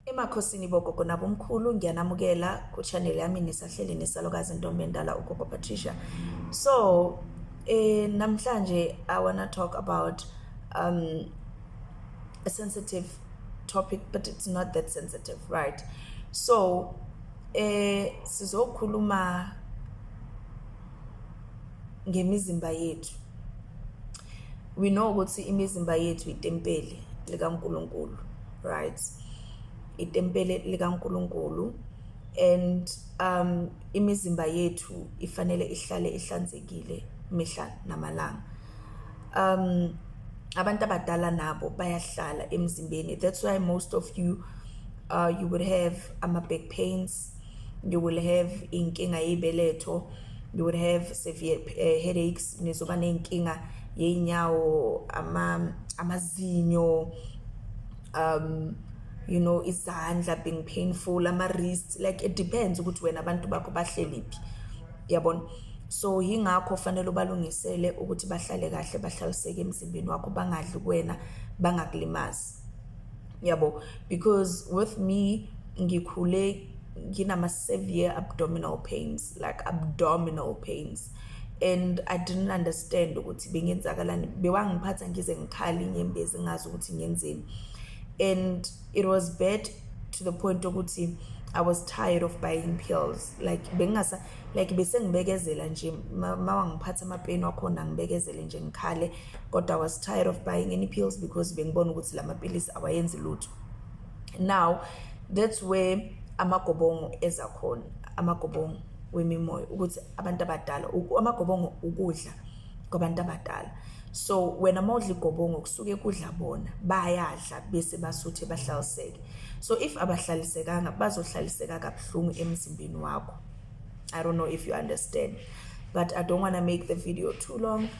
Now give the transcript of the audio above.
Emakhosini bogogo nabomkhulu ngiyanamukela ku channel yami nisahleli nesalokazi ntombi endala ugogo Patricia so eh namhlanje i wanna talk about um a sensitive topic but it's not that sensitive right so eh sizokhuluma ngemizimba yethu we know ukuthi imizimba yethu itempeli likaNkuluNkulu right itempeli likaNkuluNkulu and um imizimba yethu ifanele ihlale ihlanzekile mihla namalanga um abantu abadala nabo bayahlala emzimbeni that's why most of you uh you would have ama back pains you will have inkinga yebeletho you will have severe uh, headaches nizoba nenkinga yeinyawo ama amazinyo um you know izandla being painful ama wrist like it depends ukuthi wena abantu bakho bahleliphi yabona so yingakho fanele ubalungisele ukuthi bahlale kahle bahlaliseke emzimbeni wakho bangadli kuwena bangakulimazi yabo because with me ngikhule nginama severe abdominal pains like abdominal pains and i didn't understand ukuthi bengenzakalani bewangiphatha ngize ngikhali inyembezi ngazi ukuthi ngenzeni and it was bad to the point ukuthi i was tired of buying pills like bengingasa like besengibekezela nje mawangiphatha amapeni wakhona ngibekezele nje ngikhale kodwa was tired of buying any pills because bengibona ukuthi lama pilisi awayenzi lutho now that's where amagobongo eza khona amagobongo wemimoya ukuthi abantu abadala amagobongo ukudla kwabantu abadala so wena uma udla igobongo kusuke kudla bona bayadla bese basuthe bahlaliseke so if abahlalisekanga bazohlaliseka kabuhlungu emzimbeni wakho i don't know if you understand but i don't want to make the video too long